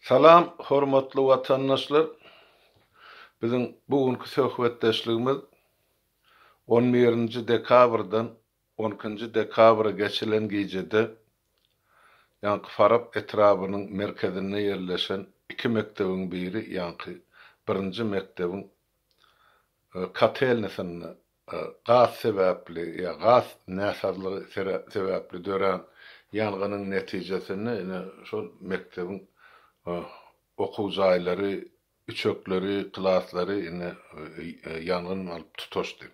Salam hormatly watandaşlar! Biziň bu günki söhbetdeşligimiz on birinji dekabrdan on ikinji dekabra geçilen gijede ýaňky Farap etrabynyň merkezinde ýerleşen iki mekdebiň biri ýaňky birinji mekdebiň kotelnisinde Gaz sebäpli ýa gaz näsazlygy sebäpli dörän ýangynyň netijesinde ine şol mekdebiň okuw jaýlary, üçekleri, klaslary ine ýangyn alyp tutaşdy.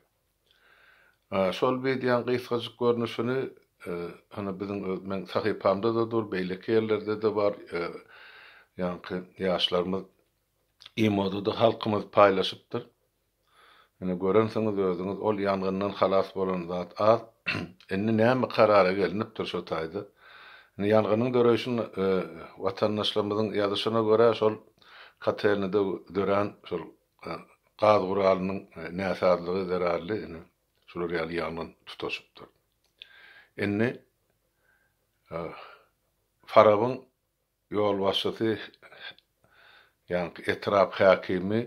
Şol wideoň gysgajyk görnüşini hany biziň öz meň sahypamda-da dur, beýleki ýerlerde-de bar, ýaňky ýaşlarymyz imoda-da halkymyz paýlaşypdyr. Ine, görensiňiz özüňiz, ol ýangyndan halas bolan zat az. Indi näme karara gelnipdir şo taýda? Indi ýangynyň döreýşin watandaşlarymyzyň ýazyşyna görä, şol kotelnide dörän şol gaz guralynyň näsazlygy zerarly indi şular ýaly ýangyn tutaşypdyr. Indi Farabyň ýolbaşçysy ýaňky etrap häkimi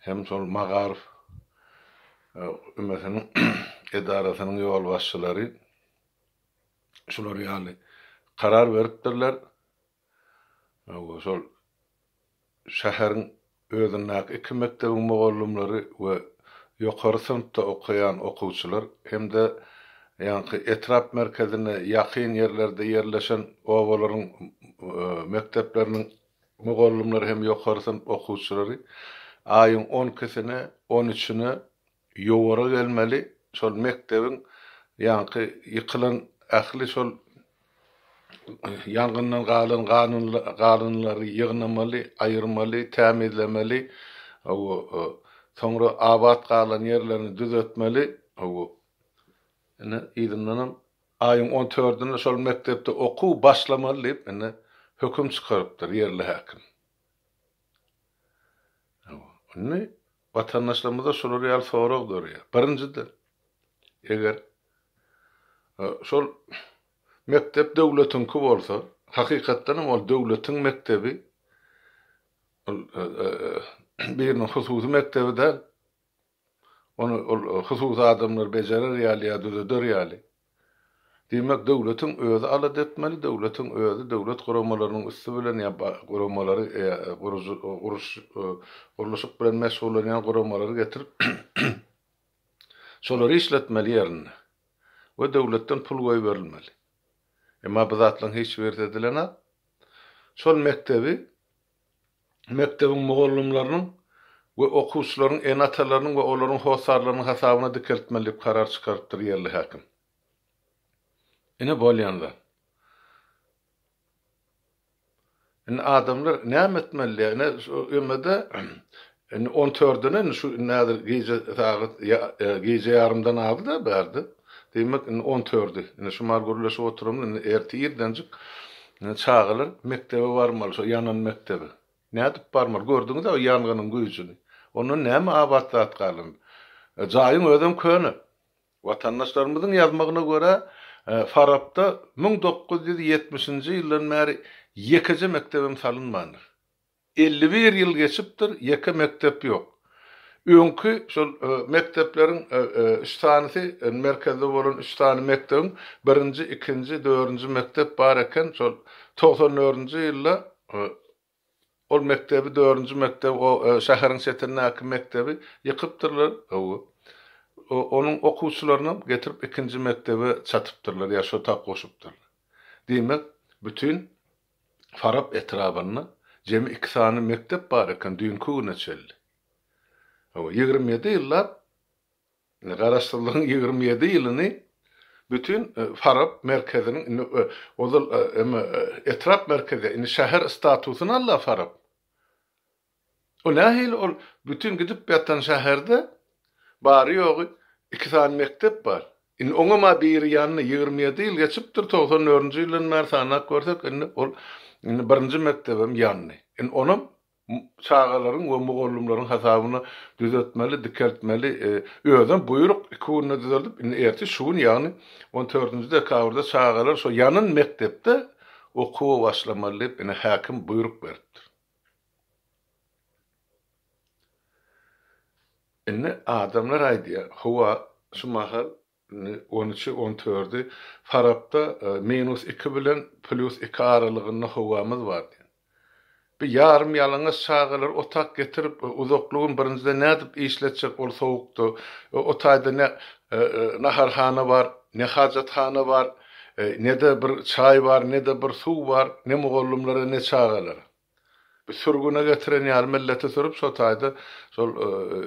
hem şol Magaryf ümesiniň edarasynyň ýolbaşçylary şular ýaly karar beripdirler. Hawa, şol şäheriň özündäki iki mekdebiň mugallymlary we ýokary synpda okaýan okuwçylar hem-de ýaňky etrap merkezine ýakyn ýerlerde ýerleşen obalaryň mekdepleriniň mugallymlary hem ýokary synp okuwçylary aýyň on ikisine, on üçüne Ýowara gelmeli şol mekdebiň ýaňky ýykylan ähli şol ýangyndan galan galynlary ýygnamaly aýyrmaly tämizlemeli soňra abat galan ýerlerini düzetmeli ine yzyndanam aýyň on tördünde şol mekdepde okuw başlamaly diýip ine höküm çykarypdyr ýerli häkim indi Watandaşlarymyzda şular ýaly sorag dörýär. Birinjiden, eger şol mekdep döwletiňki bolsa, hakykatdan hem ol döwletiň mekdebi, ol biriniň hususy mekdebi däl. Ony ol hususy adamlar bejerer ýaly ýa düzeder ýaly. Diýmek, döwletiň özi alada etmeli, döwletiň özi döwlet guramalarynyň üsti bilen ýa guramalary guruş gurluşyk bilen meşgullanýan guramalary getirip, şolary işletmeli ýerinde we döwletden pul goýberilmeli. Emma bu zatlaryň hiç birisi edilenok. Şol mekdebi mekdebiň mugallymlarynyň we okuwçylaryň ene-atalarynyň we olaryň hossarlarynyň hasabyna dikeltmeli diýip karar çykarypdyr ýerli häkim. Ine bolýan zat. Indi adamlar näme etmeli? Ine şu ýöne-de Indi on törden indi şu indi häzir gije sagat gije ýarymdan azda bärde. Diýmek indi on tördi. Indi şumar gürleşip oturamyz indi ertir irdenjik çagalar mekdebe barmaly şo ýanan mekdebe. Nädip barmaly gördüňiz-ä o ýangynyň güýjüni. Ondan näme abat zat galandy. Jaýyň özem köne. Watandaşlarymyzyň ýazmagyna görä, Farapda müň dokuz ýüz ýetmişinji ýyldan bäri ýekeje mekdebem salynmandyr. Elli bir ýyl geçipdir, ýeke mekdep ýok. Öňki şol mekdepleriň üç sanysy, merkezde bolan üç sany mekdebiň birinji, ikinji, dördünji mekdep bar eken. Şol togsan dördünji ýylda ol mekdebi, dördünji mekdebi, o şäheriň çetindäki mekdebi ýykypdyrlar. Hawa. Onuň okuwçylarynam getirip ikinji mekdebe çatypdyrlar ýa şo tak goşupdyrlar. Diýmek, bütin Farap etrabynda jemi iki sany mekdep bar eken düýnki güne çenli. Hawa, ýigrimi ýedi ýyllap, indi Garaşsyzlygyň ýigrimi ýedi ýylyny bütin Farap merkeziniň indi ozal emma etrap merkezi, indi şäher statusyny al-a Farap. O nähili ol bütin gidip ýatan şäherde bary ýogy iki sany mekdep bar. Indi oňam-a biri ýandy, ýigrimi ýedi ýyl geçipdir, togsan dördünji ýyldan bäri sanap görsek indi ol indi birinji mekdebem ýandy. Indi onam çagalaryň we mugallymlaryň hasabyna düzetmeli, dikeltmeli. Özem buýruk iki günde düzeldip, indi ertir şu gün ýagny on dördünji dekabrda çagalar şo ýanan mekdepde okuwa başlamaly diýip indi häkim buýruk beripdir. Indi adamlar aýdýar, Howa, şu mahal indi on üçi, on tördi, Farapda minus iki bilen plýus iki aralygynda howamyz bar diýen. Bu ýarym ýalaňaç çagalar otag getirip, uzakly gün birinjiden nädip işletjek ol sowukda? O taýda ne naharhana bar, ne hajathana bar. Ne-de bir çaý bar, ne-de bir suw bar, ne mugallymlara, ne çagalara. Sürgüne getiren ýaly milleti sürüp, şo taýda şol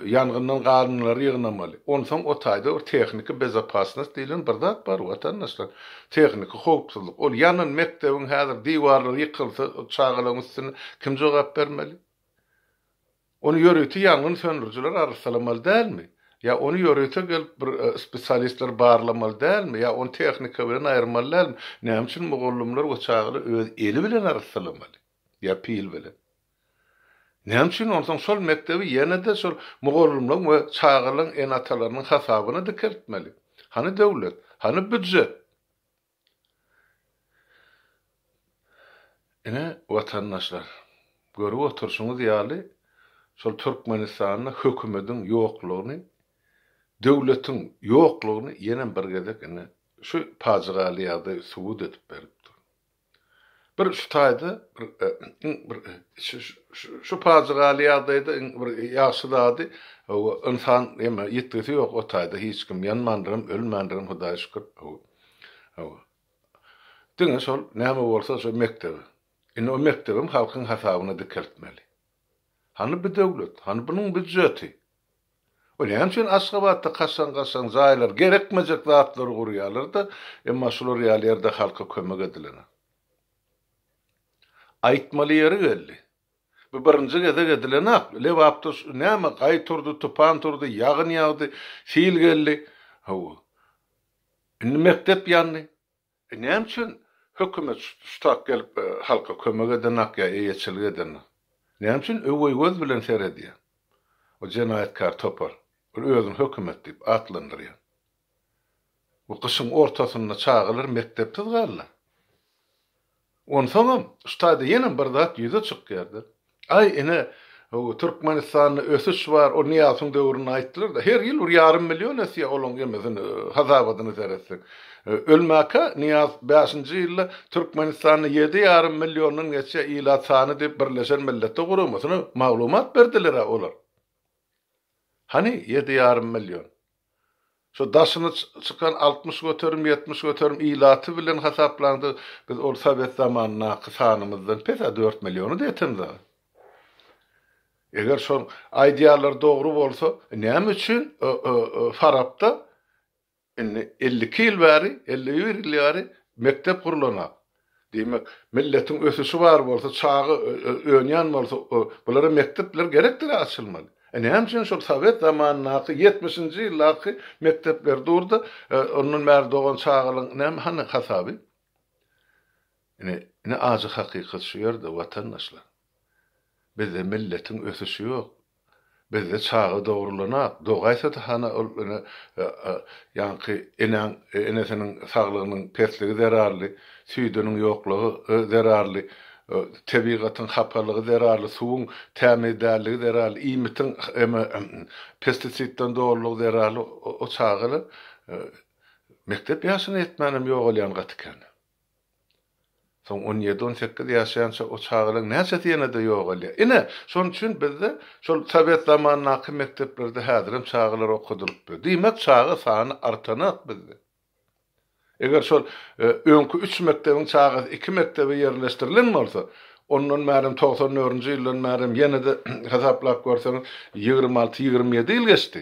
ýangyndan galynylary ýygnamaly. Onsoň o taýda bir tehniki bezopasnost diýlen bir zat bar, watandaşlar. Tehniki howpsuzlyk. Ol ýanan mekdebiň häzir diwarlary ýykylsa, çagalaryň üstüne kim jogap bermeli? Ony ýörite ýangyn söndürijiler arassalamaly dälmi? Ýa ony ýörite gelip bir spesialistler barlamaly dälmi? Ýa ony tehnika bilen aýyrmaly dälmi? Näme üçin mugallymlar we çagalar öz eli bilen arassalamaly? Ýa pil bilen? Näme üçin onsoň şol mekdebi ýene-de şol mugallymlaryň we çagalaryň ene-atalarynyň hasabyna dikeltmeli? Hany döwlet? Hany býujet? Ine, watandaşlar, görüp oturşyňyz ýaly, şol Türkmenistanda hökümediň ýoklugyny, döwletiň ýoklugyny ýenem bir gezek ine, şu pajygaly ýagdaý subut edip berip dur. Bir şu taýda bir, iň bir, şu pajygaly ýagdaýda iň bir ýagşy zady, hawa, ynsan ýetgisi ýok o taýda, hiç kim ýanmandyr hem, ölmändir hem, Hudaýa şükür, hawa. Hawa. Diňe şol näme bolsa şo mekdebi. Indi o mekdebem halkyň hasabyna dikeltmeli. Hany bu döwlet, hany bunuň býudjeti? O näme üçin Aşgabatda kaşaň-kaşaň jaýlar, gerekmejek zatlary gurýarlar-da, emma şular ýaly ýerde halka kömek edilene. Aýtmaly ýeri geldi. Bu birinji gezek edilenak. Lebapda näme gaý turdy, tupan turdy, ýagyn ýagdy, sil geldi. Hawa. Indi mekdep ýandy. E näme üçin hökümet şutak gelip halka kömek edenok ýa eýeçilik edenok? Näme üçin öweý göz bilen seredýä o jenaýatkär topar, bir özüni hökümet diýip atlandyrýa. Bu gyşyň ortasynda çagalar mekdepsiz galdylar. Onsoňam şu taýda ýene bir zat ýüze çykýardyr. Aý, ine, Türkmenistanda ösüş bar, ol Nyýazowyň döwründe aýtdylar-da, her ýyl bir ýarym million ösýär, olaň emesini, hasabadyny seretsek. Ölmäkä Nyýaz bäşinji ýylda Türkmenistanda ýedi ýarym milliondan geçýär ilat sany diýip Birleşen Milletler Guramasyna maglumat berdiler-ä olar. Hany, ýedi ýarym million? Şu daşyna çykan altmyş göterim, ýetmiş göterim ilaty bilen hasaplaňda, biz ol sowet zamanyndaky sanymyzdan pes-ä dört milliony-da etemiz aga. Eger şol aýdýanlary dogry bolsa, näme üçin Farapda indi elli iki ýyl bäri, elli bir ýyl bäri mekdep gurlanok? Diýmek, milletiň ösüşi bar bolsa, çaga önýän bolsa, bulara mekdepler gerekdir-ä açylmaly. E näme üçin şol sowet zamanyndaky, ýetmişinji ýyldaky mekdepler dur-da, ondan bäri dogan çagalaryň näme, hany hasaby? Ine, ine ajy hakykat şu ýerde, watandaşlar. Bizde milletiň ösüşi ýok. Bizde çaga dogrulanok. Dogaýsa-da hany ol ene ýaňky enäň enesiniň saglygynyň pesligi zerarly, süýdüniň ýoklugy zerarly, tebigatyň hapalygy zerarly, suwuň tämiz dälligi zerarly, iýmitiň eme pestisidden dolulygy zerarly o çagalar mekdep ýaşyna ýetmänem ýogalýan gaty kän. Soň on ýedi-on sekiz ýaşaýança o çagalar näçesi ýene-de ýogalýar. Ine, şonuň üçin bizde şol sowet zamanyndaky mekdeplerde häzirem çagalar okadylypdyr. Diýmek, çaga sany artanok bizde. Eger şol öňki üç mekdebiň çagasy iki mekdebe ýerleşdirilen bolsa, ondan bärem togsan dördünji ýyldan bärem ýene-de hasaplap görseňiz, ýigrimi alty-ýigrimi ýedi ýyl geçdi.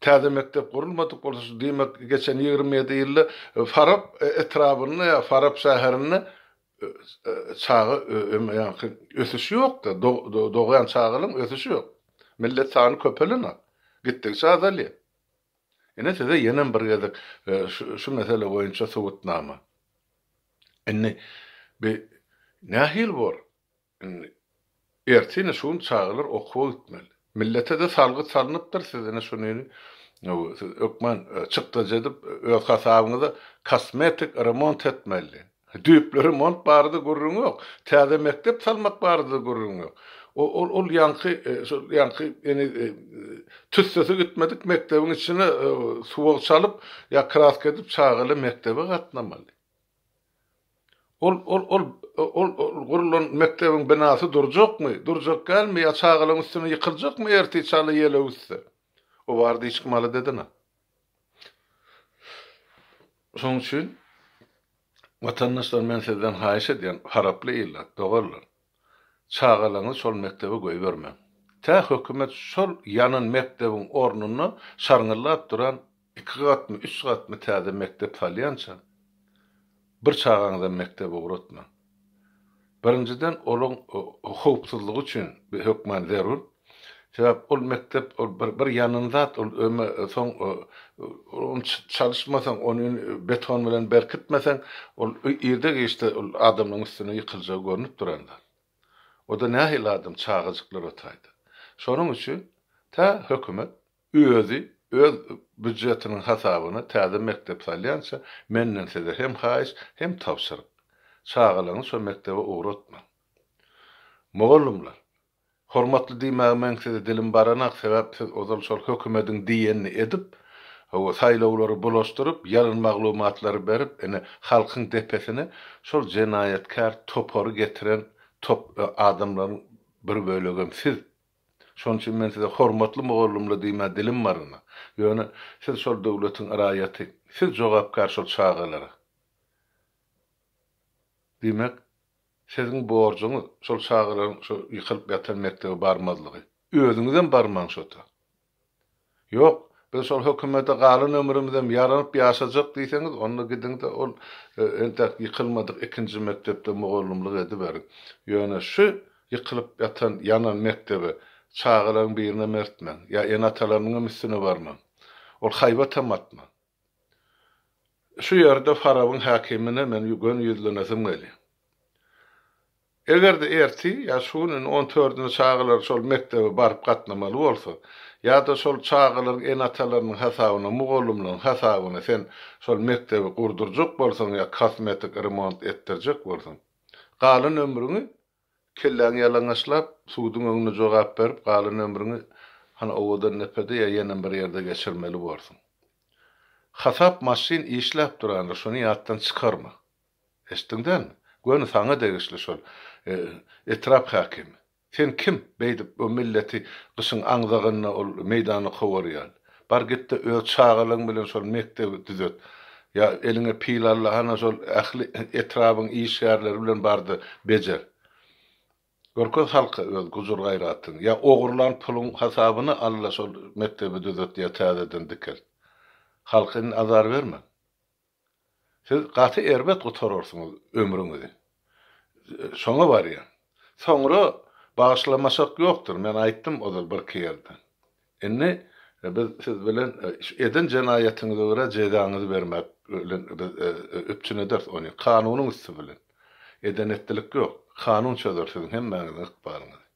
Täze mekdep gurulmadyk bolsa, şu diýmek, geçen ýigrimi ýedi ýylda Farap etrabynda ýa Farap şäherinde çaga ömeýanki ösüş ýok-da, dogýan çagalaň ösüşi ýok. Millet sany köpelen-a, gitdigiçe azalýar. Ine size ýenem bir gezek şu mesele boýunça subutnama. Indi bi nähili bor? Indi, ertine şu gün çagalar okuwa gitmeli. Millete-de salgyt salnypdyr, siz ine şuny siz ökmen çykdajy edip, öz hasabyňyza kosmetik remont etmeli. Düýpli remont barada gürrüň ýok. Täze mekdep salmak barada-da gürrüň ýok. O-ol, ol ýaňky, şol ýaňky ene tüssesi gitmedik mekdebiň içine suwag çalyp ýa kraska edip çagalar mekdebe gatnamaly. Ol, ol, ol, ol, ol gurulan mekdebiň binasy durjakmy, durjak dälmi ýa çagalaň üstüne ýykyljakmy ertir çala ýele öwüsse? O barada hiç kim alada edene. Şonuň üçin, watandaşlar men sizden haýyş edýän, haraply ilat, doganlar, Çagalaňyzy şol mekdebe goýbermäň. Tä hökümet şol ýanan mekdebiň ornuna şarňyllap duran iki gatmy, üç gatmy täze mekdep salýança, bir çagaňyzam mekdebe ugratmaň. Birinjiden, olaň howpsuzlygy üçin hökman zerur. Sebäp ol mekdep ol bir bir ýanan zat ol öme soň ony çalyşmasaň ony beton bilen berkitmeseň ol irde giçde ol adamlaryň üstüne ýykyljagy görnüp duran zat. Oda nähili adam çagajyklar otaýda. Şonuň üçin tä hökümet özi öz býujetiniň hasabyna täze mekdep salýança menden size hem haýyş hem tabşyryk. Çagalaňy şo mekdebe ugratmaň. Mugallymlar. Hormatly diýmäge meň size dilim baranak sebäp siz ozal şol hökümediň diýenini edip hawa saýlawlary bulaşdyryp ýalyn maglumatlary berip ine halkyň depesine şol jenaýatkär topary getiren top adamlaryň bir bölegem siz şonuň üçin men size hormatly mugallymly diýmä dilim barana ýöne siz şol döwletiň raýaty siz jogapkär şol çagalara diýmek Siziň borjuňyz şol çagalaryň şo ýykylyp ýatan mekdebe barmazlygy. Özüňizem barmaň şota. Ýok, biz şol hökümete galan ömrümizem ýaranyp ýaşajak diýseňiz, onda gidiň-de ol entäk ýykylmadyk ikinji mekdepde mugallymlyk ediberiň. Ýöne şu ýykylyp ýatan, ýanan mekdebe çagalaryň birinem ertmäň. Ýa ene-atalarynyňam üstüne barmaň. Ol haýbatam atmaň. Şu ýerde Farabyň häkimine men göni ýüzlenesim gelýär. Eger-de ertir ýa şu günüň on dördünde çagalar şol mekdebe baryp gatnamaly bolsa, ýa-da şol çagalaryň ene-atalarynyň hasabyna, mugallymlaryň hasabyna sen şol mekdebi gurdurjak bolsaň ýa kosmetik remont etdirjek bolsaň, galan ömrüňi Kelläňi ýalaňaçlap, suduň öňünde jogap berip, galan ömrüňi hany owadan depede ýa ýenem bir ýerde geçirmeli borsuň. Hasap maşyn işläp durandyr, şony ýatdan çykarma. Eşitdiň dälmi? Göni saňa degişli şol etrap häkimi. Sen kim, beýdip o milleti gyşyň aňzagynda ol meýdana kowarýaly? Bar gitde öz çagalaň bilen şol mekdebi düzet. Ýa eliňe pil alla hana şol ähli etrabyň işgärleri bilen barda bejer. Görkez halka öz gujur-gaýratyňy. Ýa ogurlan puluň hasabyna alla şol mekdebi düzet ýa täzeden dikelt. Halka indi azar berme. Siz gaty erbet gutararsyňyz ömrüňizi. Şoňa barýan. Soňra bagyşlamasak ýokdur, men aýtdym ozal birki ýerde. Indi biz siz bilen şu eden jenaýatyňyza görä jezaňyzy bermek bilen biz üpjün ederis ony, kanunyň üsti bilen. Eden-etdilik ýok. Kanun çözer siziň hemmäňiziň ykbalyňyzy.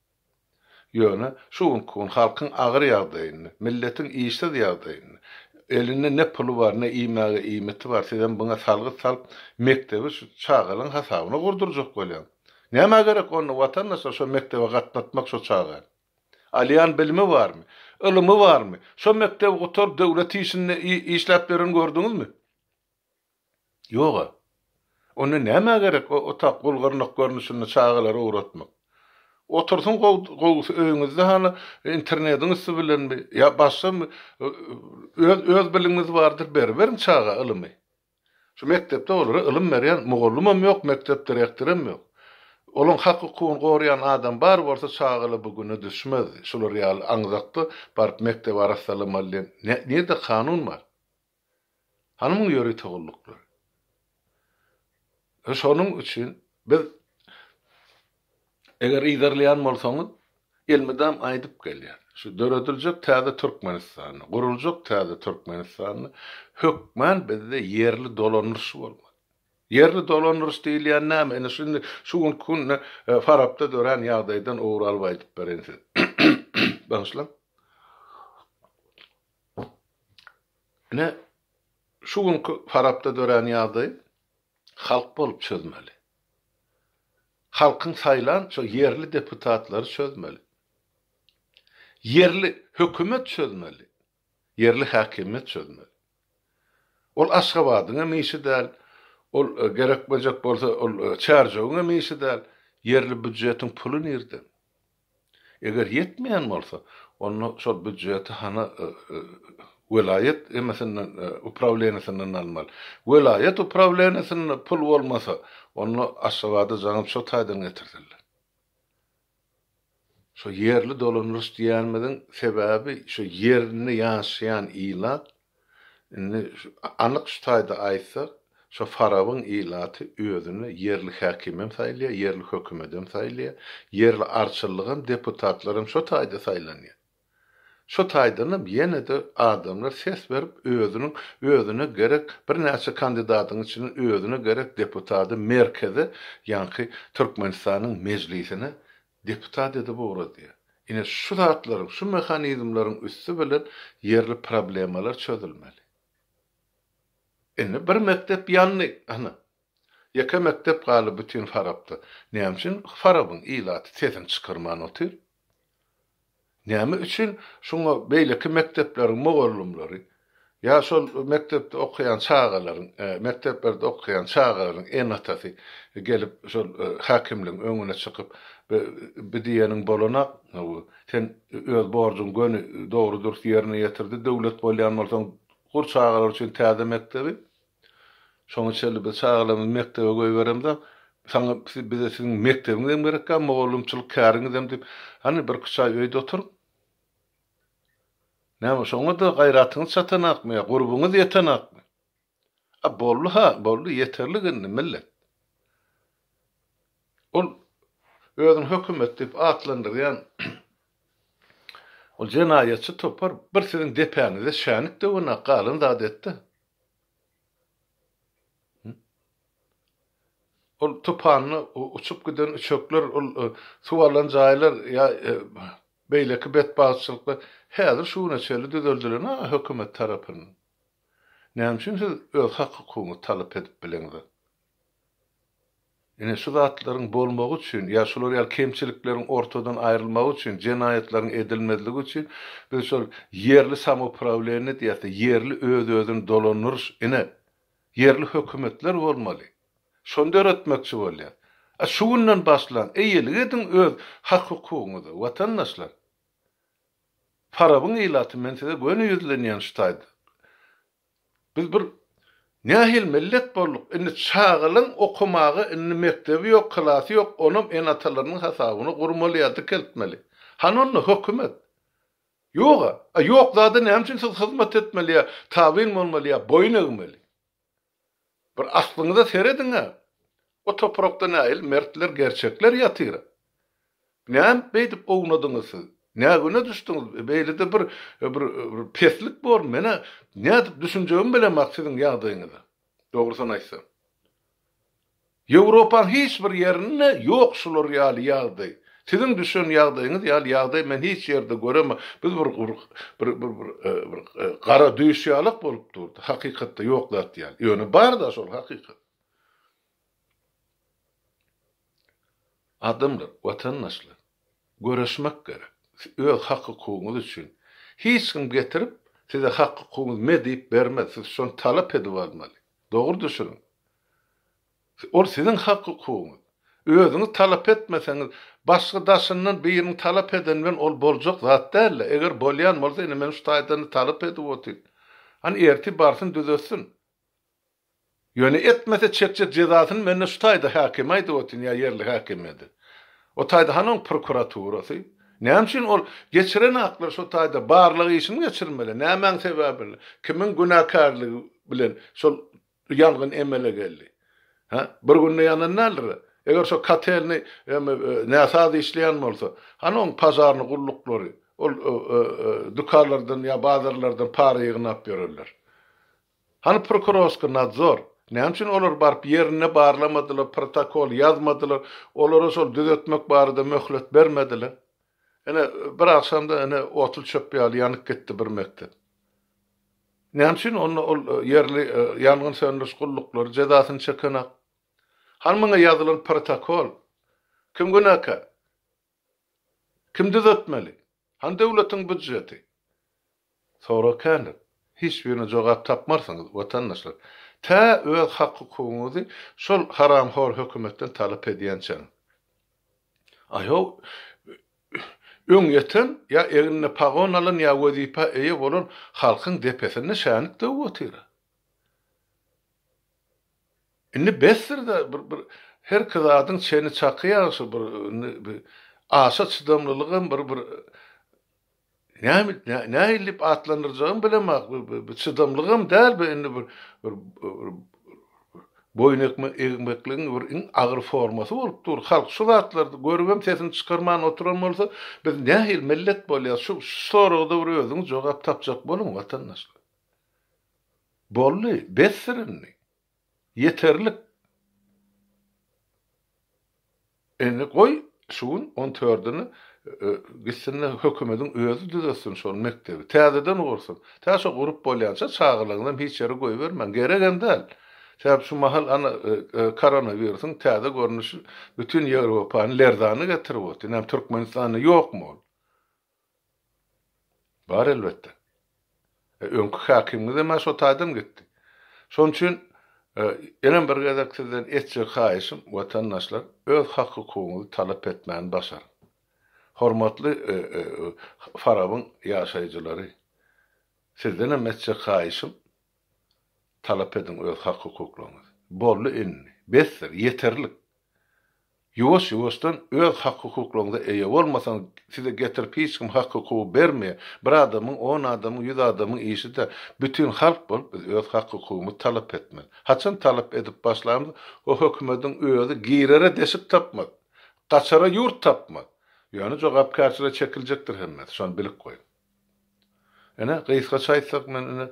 Ýöne şu günki gün halkyň agyr ýagdaýyny, milletiň işsiz ýagdaýyny, elinde ne puly bar, ne iýmäge iýmiti bar, sizem buňa salgyt salyp, mekdebi şu çagalaň hasabyna gurdurjak bolýaň. Nämä gerek onda, watandaşlar, şo mekdebe gatnatmak şo çagany? Alýan bilimi barmy? Ylymy barmy? Şo mekdebi gutaryp, döwlet işinde işläp ýören gördüňizmi? Ýog-a. Onda nämä gerek o otak gul-gyrnak görnüşinde çagalary ugratmak? Otursun gowusy öýüňizde hany internediň üsti bilenmi ýa başgamy öz bilimiňiz bardyr beriberiň çaga ylymy. Şu mekdepde olara ylym berýän mugallymam ýok, mekdep direktorem ýok. Olaň hak-hukugyny goraýan adam bar bolsa çagala bu güne düşmezdi. Şular ýaly aňzakda baryp mekdebi arassalamaly diýen nirde kanun bar? Hanymyň ýörite gulluklary. E şonuň üçin biz eger yzarlaýan bolsaňyz, elmydam aýdyp gelýär. Şu dörediljek täze Türkmenistanda, guruljak täze Türkmenistanda hökman bizde ýerli dolandyryş bolmaly. Ýerli dolandyryş diýilýän näme? Ine şindi şu günki günde Farapda dörän ýagdaýdan ugur alyp aýdyp bereýin size. Bagyşlaň. Ine, şu günki Farapda dörän ýagdaýy halk bolup çözmeli. Halkyň saýlan şo ýerli deputatlary çözmeli. Ýerli hökümet çözmeli. Ýerli häkimiýet çözmeli. Ol Aşgabadyň hem işi däl, ol gerekmejek bolsa, ol Çärjewiň hem işi däl. Ýerli býujetiň puly nirden? Eger ýetmeýän bolsa, onda şol býudjeti hany welaýat emesinden, uprawleniýesinden almaly. Welaýat uprawleniýesinde pul bolmasa, onda Aşgabada jaňyp şo taýdan getirsinler. Şo ýerli dolandyryş diýýänimiziň sebäbi, şo ýerinde ýaşaýan ilat Indi anyk şu taýda aýtsak, şo Farabyň ilaty özüni ýerli häkimem saýlaýar, ýerli hökümetem saýlaýar, ýerli arçylygam, deputatlaram şo taýda saýlanýar. Şo taýdanam ýene-de adamlar ses berip, özüniň özüne gerek birnäçe kandidatyň içinden özüne gerek deputady merkeze, ýaňky Türkmenistanyň Mejlisine Deputat edip ugradýar. Ine, şu zatlaryň, şu mehanizmleriň üsti bilen ýerli problemalar çözülmeli. Indi bir mekdep ýandy, ana, ýeke mekdep galdy bütin Farapda. Näme üçin Farabyň ilaty sesini çykarman otyr? Näme üçin şuňa beýleki mekdepleriň mugallymlary ýa şol mekdepde okaýan çagalaryň, mekdeplerde okaýan çagalaryň ene-atasy gelip şol häkimligiň öňüne çykyp, bi diýeniň bolanok, hawy, sen öz borjuňy göni dogry-dürs ýerine ýetirdi, döwlet bolýan bolsaň, gur çagalar üçin täze mekdebi. Şoňa çenli biz çagalarymyzy mekdebe goýberemzok. Saňa bize siziň mekdebiňizem gerek ýok, mugallymçylyk käriňizem diýip, hany bir iki-üç aý öýde oturyň. Näme, şoňa-da gaýratyňyz çatanokmy ýa gurbuňyz ýetenokmy? A boldy-ha, boldy, ýeterlik indi, millet. Ol özüni hökümet diýip atlandyrýan ol jenaýatçy topar bir siziň depäňize şänik döwenok, galan zady etdi. Ol tupanda uçup giden üçekler, ol suw alan jaýlar ýa beýleki betbagtçylyklar häzir şu güne çenli düzeldilen-ä hökümet tarapyndan. Näme üçin siz öz hak-hukugyňyzy talap edip bileňzok? Ine, şu zatlaryň bolmagy üçin ýa şular ýaly kemçilikleriň ortadan aýrylmagy üçin, jenaýatlaryň edilmezligi üçin biz şol ýerli samouprawilenýe diýäsde, ýerli öz-özüni dolandyryş, ine, ýerli hökümetler bolmaly. Şony döretmekçi bolýar. A şu günden başlaň, eýelik ediň öz hak-hukugyňyza, watandaşlar! Farabyň ilaty, men size göni ýüzlenýän şu taýda. Biz bir nähili millet bolduk, indi çagalaň okamaga indi mekdebi ýok, klasy ýok, onam ene-atalarynyň hasabyna gurmaly ýa dikeltmeli. Hany onda hökümet? Ýog-a. A ýok zada näme üçin siz hyzmat etmeli ýa tabyn bolmaly ýa boýun egmeli? Bir aslyňyza serediň-ä! O toprakda nähili mertler, gerçekler ýatyr? Näme beýdip ownadyňyz siz? Nä güne düşdüňiz? Beýlede bir bir peslik bor, men-ä nädip düşünjegimi bilemok siziň ýagdaýyňyza, dogrusyny aýtsam. Ýewropaň hiç bir ýerinde ýok şular ýaly ýagdaý. Siziň düşen ýagdaýyňyz ýaly ýagdaý men hiç ýerde göremok. Biz bir bir bir bir bir gara düýş ýalak bolup durdy. Hakykatda ýok zat ýaly. Ýöne bar-da şol hakykat. Adamlar, watandaşlar, göreşmek gerek. Öz hak-hukugyňyz üçin. Hiç kim getirip, size hak-hukugyňyz me diýip bermez. Siz şony talap edip almaly. Dogry düşüniň. Ol siziň hak-hukugyňyz. Özüňiz talap etmeseňiz, başga daşyndan biriniň talap edeni bilen ol boljak zat däl-le. Eger bolýan bolsa, ine men şu taýdan-da talap edip otyryn. Hany ertir barsyn düzetsin. Ýöne etmese çekjek jezasyny men-de şu taýda häkime aýdyp otyryn ýa ýerli häkime-de. O taýda hany oň prokuraturasy? Näme üçin ol geçiren aklar şo taýda barlag işini geçirmeli? Nämäň sebäbi bilen? Kimiň günäkärligi bilen şol Bu ýangyn emele geldi. Hä? Bir günde ýanan däldir-de. Eger şo kotelni näsaz işleýän bolsa, hany oň pažarny gulluklary? Ol dükanlardan ýa bazarlardan para ýygnap ýörerler. Hany prokurorsky nadzor? Näme üçin olar baryp ýerinde barlamadylar, protokol ýazmadylar, olara şol düzetmek barada möhlet bermediler? Ine, bir agşamda ine otly çöp ýaly ýanyp gitdi bir mekdep. Näme üçin onda ol ýerli ýangyn söndüriş gulluklary jezasyny çekenok? Hany muňa ýazylan protokol? Kim günäkär? Kim düzetmeli? Hany döwletiň býudjeti? Sorag kändir. Hiç birine jogap tapmarsyňyz, watandaşlar. Tä öz hak-hukugyňyzy şol haramhor hökümetden talap edýänçäňiz. Aýow öň ýeten, ýa egnine pagon alan, ýa wezipä eýe bolan halkyň depesinde şänik döwüp otyr-a. Indi besdir-de, bir-bir herki zadyň çeni çaky ýagşy, bir indi aşa çydamlylygam bir-bir. Näme nähillip atlandyrjagymy bilemok, bu çydamlygam däl bu indi bir boýun egmekligiň bir iň agyr formasy bolup dur. Halk şu zatlary görübem sesini çykarman oturan bolsa, biz nähili millet bolýas? Şu soragada bir özüňiz jogap tapjak boluň watandaşlar. Boldy, besdir indi. Ýeterlik. Indi goý şu gün on tördini gitsin-de hökümediň özi düzetsin şol mekdebi. Täzeden gursun. Tä şo gurup bolýança çagalaňyzam hiç ýere goýbermäň. Geregem däl. Sebäp şu mahal ana koronawirusyň täze görnüşi bütin Ýewropany lerzana getirip otyr. Näme Türkmenistanda ýokmy ol? Bar elbetde. E, öňki häkimiňizem-ä şo taýdan gitdi. Şonuň üçin ýenem bir gezek sizden etjek haýyşym, watandaşlar, öz hak-hukugyňyzy talap etmäni başaryň. Hormatly Farabyň ýaşaýjylary, sizdenem etjek haýyşym, talap ediň öz hak-hukuklaryňyzy. Boldy indi. Besdir, ýeterlik. Ýuwaş-ýuwaşdan öz hak-hukuklaryňyza eýe bolmasaňyz, size getirip hiç kim hak-hukugy bermeýär. Bir adamyň, on adamyň, ýüz adamyň işi-de, bütin halk bolup biz öz hak-hukugymyzy talap etmeli. Haçan talap edip başlamyz, o hökümediň özi girere deşik tapmaz, gaçara ýurt tapmaz. Ýöne jogapkärçilige çekiljekdir hemmesi, şony bilip goýuň. Ine, gysgaça aýtsak, men ine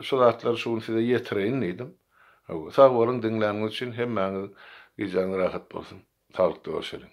şu zatlary şu gün size ýetireýin diýdim. Hawa, sag boluň diňläniňiz üçin, hemmäňiziň gijäňiz rahat bolsun. Saglykda görşeliň.